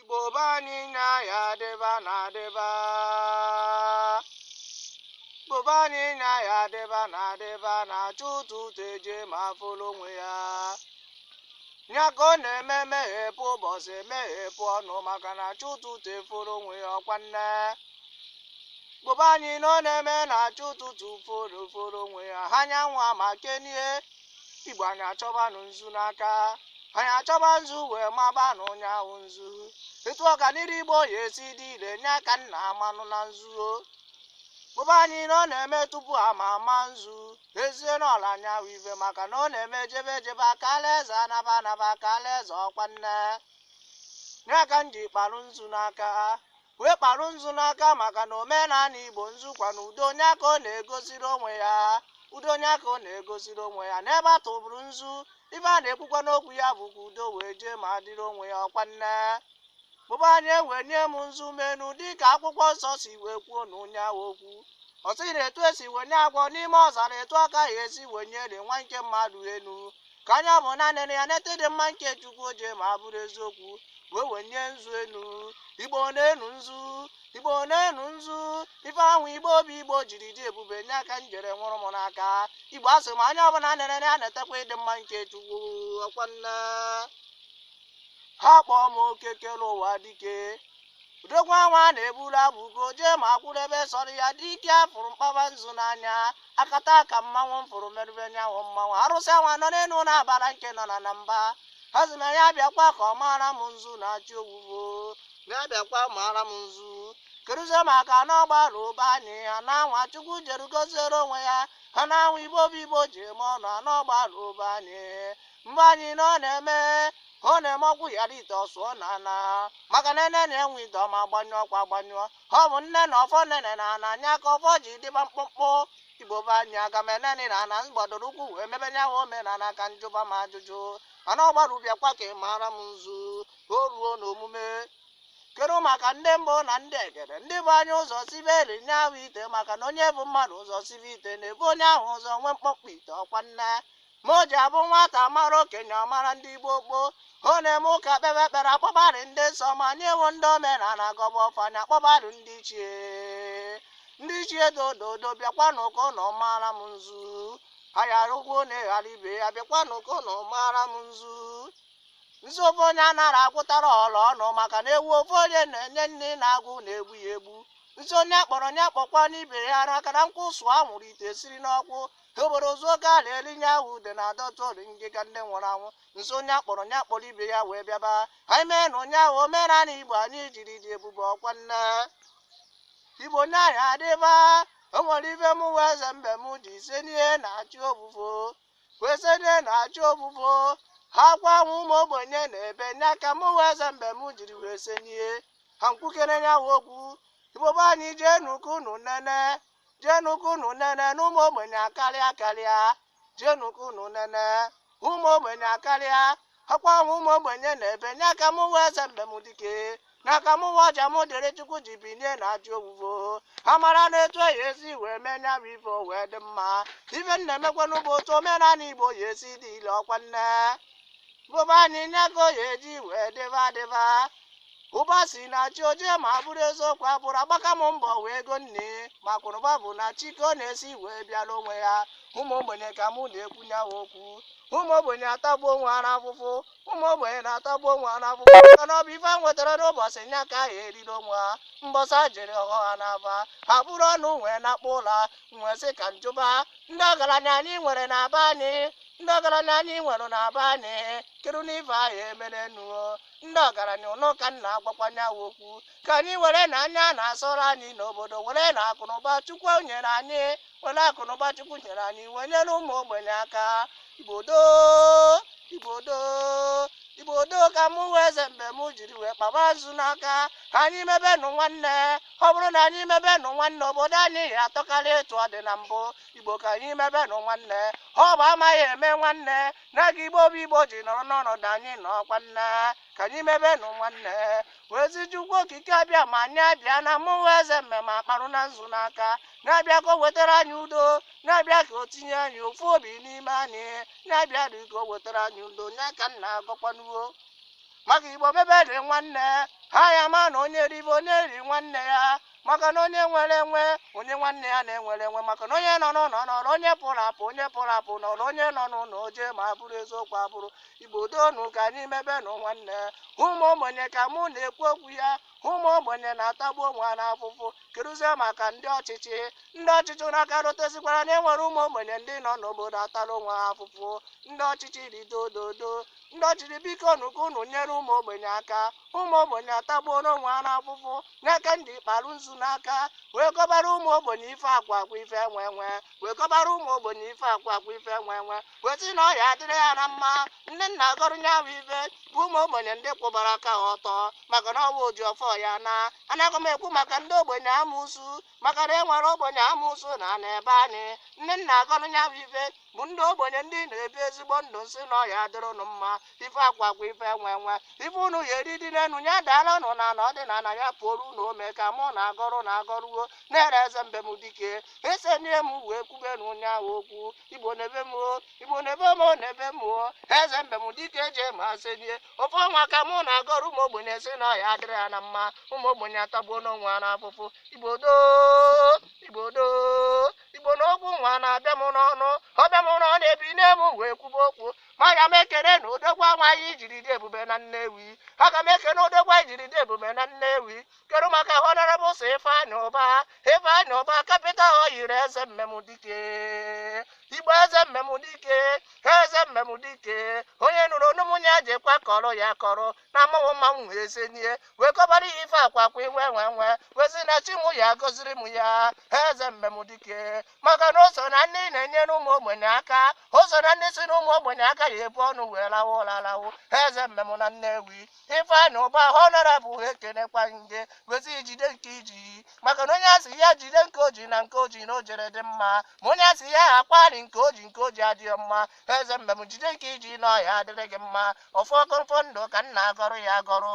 Igbo be anyị nya ya adịba na adịba Igbo be anyị nya ya adịba na adịba na chi ụtụtụ eje ma folo onwe ya ya ka ọ na-eme meghepụ ụbọchị meghepụ ọnụ maka na chi ụtụtụ efolo onwe ya ọkwa nne Igbo be anyị na ọ na-eme na chi ụtụtụ efolo onwe ya ha nyanwa ma kenie Igbo anyị achọbanụ nzu n'aka anyị achọba nzu wee mabanụ nya ahụ nzu etu ọganiru igbo ya-esi dị ire nya ka nna amanụ na nzuo Igbo be anyị na ọ na-eme tupu a ma ama nzu ezie na ọla anya ahụ ibe maka na ọ na-eme ejebe ejebe aka alaeze anaba anaba aka alaeze ọkwa nne nya ka m ji kparụ nzu n'aka wee kparụ nzu n'aka maka na omenala igbo nzu kwa na udo nya ka ọ na-egosiri onwe ya udo nya ka ọ na-egosiri onwe ya n'ebe a tụbụrụ nzu ife a na-ekwukwa n'okwu ya bụ ka udo wee jee ma adịrị onwe ya ọkwa nne igbo be anyị ewenye m nzu m enu dịka akwụkwọ nsọ si wee kwuo na nya ahụ okwu ọ sị na etu esi wenye agwọ n'ime ọzara etu a ka a ya-esi wenyere nwa nke mmadụ enu ka onye ọbụna nene ya neta ịdị mma nke chukwu o je ma bụrụ eziokwu wee wenye nzu enu igbo neenụ nzu igbo neenụ nzu ife ahụ igbo bụ igbo jiri dị ebube nya ka m jere nwụrụ m n'aka igbo asị m onye ọbụla nene ya netakwa ịdị mma nke chukwu ọkwa nne akpọọ m eke kere ụwa dike udokwa nwa na-eburu abụba ugo jee ma akwụrụ ebe sọrọ ya dike a fụrụ mkpaba nzu n'anya akataka mmanwụ m fụrụ merube nyanwụ mmanwụ arụsị anwa nọ n'elu na-abara nke nọ na ana mba asị m ya bịakwa ka ọ maara m nzu na-achị owuwo ya bịakwa maara m nzu keduzie maka na agbara be anyị ha na anwa chukwu jere goziere onwe ya ha na anwa igbo bụ igbo ji eme ọnụ na agbara be anyị igbo be anyị na ọ na-eme ọ na-eme ọgwụ ghara ite ọ sụọ na ana maka na enenie nwa ite ọ ma agbanyụọ ọkụ agbanyụọ ọ bụ nneni ọfọ neni ana anya ka ọfọ ji dịba mkpụmkpụ igbo be anyị aga m eneni na ana gbadoro ụkwụ wee mebe nya nwa omenala ka njụba m ajụjụ mana agbara bịakwa ka ị maara m nzu ka o ruo n'omume kedu maka ndị mbụ na ndị egede ndị bu anyị ụzọ sibere nya ahụ ite maka na onye bu mmadụ ụzọ sibe ite na-ebu onye ahụ ụzọ nwee mkpọmkpọ ite ọkwa nne ma o ji abụ nwata mara okenye ọ mara ndị gboo gboo ọ na-eme ụka kpebe ekpere akpọbadị ndị nsọ ma nya ahụ ndị omenala gọba ọfọ nya akpọbadị ndị ichie ndị ichie dododo bịakwanụ ka unu mara m nzu ayara ụgwọ na-eghara ibe ya bịakwanụ ka unu mara m nzu nzu ofu onye anara agwụtara ọla ọnụ maka na ewu ofu onye na-enye nni na agụụ na-egbu ya egbu nzu onye a kpọrọ nya kpọkwanụ ibe ya ara akara nkwụ sụọ anwụrụ ite siri n'ọkụ obodo ozu oke a na-eri nye ahụ ude na-adọtụ ori ngịga ndị nwụrụ anwụ nso onye akpọrọ onye akpọrọ ibe ya wee bịaba anyị mee na onye ahụ omenala igbo anyị jiri dị ebube ọkwa nne igbo onye ahụ adịba o nwere ife mụwa eze mbem ji ise n'ihe na chi ofufo wee se n'ihe na chi ofufo akwa ahụ ụmụ ogbenye na-ebe nya ka mụwa eze mbem jiri wee se n'ihe ka m kwukere nyawa okwu igbo be anyị jenu ka unu nene jenu ka unu nene na ụmụ ogbenye akarịa karịa jenu ka unu nene ụmụ ogbenye akarịa akwa ahụ ụmụ ogbenye na-ebe nya ka mụwa eze mbem dike n'aka m nwa ọja m dịrị chukwu ji binye na chi ofufo ha mara na etu ya esi wee mee nya bụ ife o wee dị mma ife m na-emekwanụ bụ otu omenala igbo ya esi dị ile ọkwa nne bụba anyị nya ka ọ ya eji wee dịba dịba ụba si na chi oje ma bụrụ eziokwu abụrụ agbaka m mbọ nwee ego nne ma kwụrụba bụ na chi ka ọ na-esi wee bịara onwe ya ụmụ ogbenye ka mụ na-ekwu nyawa okwu ụmụ ogbenye atagbu onwe ha n'afụfụ ụmụ ogbenye na-atagbu onwe ha n'afụfụ maka na ọ bụ ife ha nwetara n'ụbọchị nya ka ha eriri onwe ha mbọsị a jere ọghọ ha n'aba ha buru ọnụ wee nakpuo ụla m wee sị ka m jụba ndị ọgaranya anyị nwere na be anyị ndị ọgaranya anyị nwere na be anyị kedunụ ife ahụ e mere unu o ndị ọgaranya ụnụ ka m na-agwakwa nyawa okwu ka anyị were na anya na-asọrọ anyị n'obodo were na akụnụba chukwu nyere anyị were akụnụba chukwu nyere anyị wee nyere ụmụ ogbenye aka igbo doo igbo doo igbo doo ka mụwa eze mbem jiri wee kpaba nzu n'aka ka anyị mebenụ nwanne ọ bụrụ na anyị mebenụ nwanne obodo anyị ya atọkarị etu ọ dị na mbụ igbo ka anyị mebenụ nwanne ọ bụ amaghị eme nwanne na gị igbo bụ igbo ji nọrọ n'ọnọdụ anyị nọkwa nna ka anyị mebenụ nwanne wee zi chukwu okike abịama nya bịa na mụwa eze mbem akparụna nzu n'aka nya bịa ka o wetara anyị udo nya bịa ka o tinye anyị ofu obi n'ime anyị nya bịa dị ka o wetara anyị udo nya ka m na-agọkwanụ o maka igbo mebe dị nwanne ha ya ama na onye ribe o nye ri nwanne ya maka na onye nwere enwe onye nwanne ya na-enwere enwe maka na onye nọ n'ụlọ nọrọ onye pụrụ apụ onye pụrụ apụ nọrọ onye nọ n'ụlọ oje ma abụrụ eziokwu abụrụ igbo doonu ka anyị mebenụ nwanne ụmụ ogbenye ka mụ na-ekwu okwu ya ụmụ ogbenye na-atagbu onwe ha n'afụfụ keduzi maka ndị ọchịchị ndị ọchịchị n'aka rụtesikwara na e nwere ụmụ ogbenye ndị nọ n'obodo atara onwe ha afụfụ ndị ọchịchị ridododo ndị ọchịchị bikonụ ka unu nyere ụmụ ogbenye aka ụmụ ogbenye atagbuona onwe ha n'afụfụ nya ka m ji kparụ nzu n'aka wee gọbara ụmụ ogbenye ife akụ akụ ife enwe enwe wee gọbara ụmụ ogbenye ife akụ akụ ife enwe enwe wee sị na ọ ya adịrị ha na mma ndị m na-agọrọ nyawa ife bụ ụmụ ogbenye ndị kwụbara aka ha ọtọ maka na ọ bụ oji ọfọ ya ana anaghị m ekwu maka ndị ogbenye amusu maka na e nwere ogbenye amụsụ na na ebe anyị ndị m na-agọrụ ya bụ ife bụ ndị ogbenye ndị na-ebi ezigbo ndụ m sị na ọ ya-adịrị ụnụ mma ife akụ akụ ife enwe enwe ife ụnụ ya-eri dị n'enu ya daala ụnụ n'ana ọ dị n'ana ya puoru ụnụ ome ka mụ na-agọrụ na-agọrụ wo na-ere eze mbem dike esenie m wee kwubenu nya bụ okwu igbo n'ebe m o igbo n'ebe m o n'ebe m o eze mbem dike eje ma senie ọfọ nwa ka mụ na-agọrọ ụmụ ogbenye sị na ọ ya-adịrị ya na mma ụmụ ogbenye atagbuona onwe ha n'afụfụ igbo doo igbo doo igbo na okwu nwa na-abịa m n'ọnụ ọbịa m n'ọnụ na ebinie m wee kwube okwu ma aga m ekenenụ odogwu anyị jiri dị ebube na nnewi aga m ekene odogwu anyị jiri dị ebube na nnewi kedu maka honorable sir ifeanyi ụba ifeanyi ụba capital oil eze mbem dike igbo eze mbem dike eze mbem dike onye nụrụ onu mụ nya jekwa kọrọ ya kọrọ na mmanwụ mmanwụ wee senie wee gọbara ya ife akụ akụ ife enwe enwe wee sị na chi mụ ya gọziri m ya eze mbem dike maka na o so na ndị na-enyere ụmụ ogbenye aka o so na ndị sị na ụmụ ogbenye aka ya ebu ọnụ wee lawa ụla lawo eze mbem na nnewi Ifeanyi Ụba Honorable ekenekwa m gị wee sị gị jide nke i ji maka na onye a sị ya jide nke o ji na nke o ji na o jere dị mma ma onye a sị ya akpari nke o ji nke o ji adịghị mma eze mbem jide nke i ji na ọ ya-adịrị gị mma ọfọ ogologo ndụ ka m na-agọrọ ya agọrọ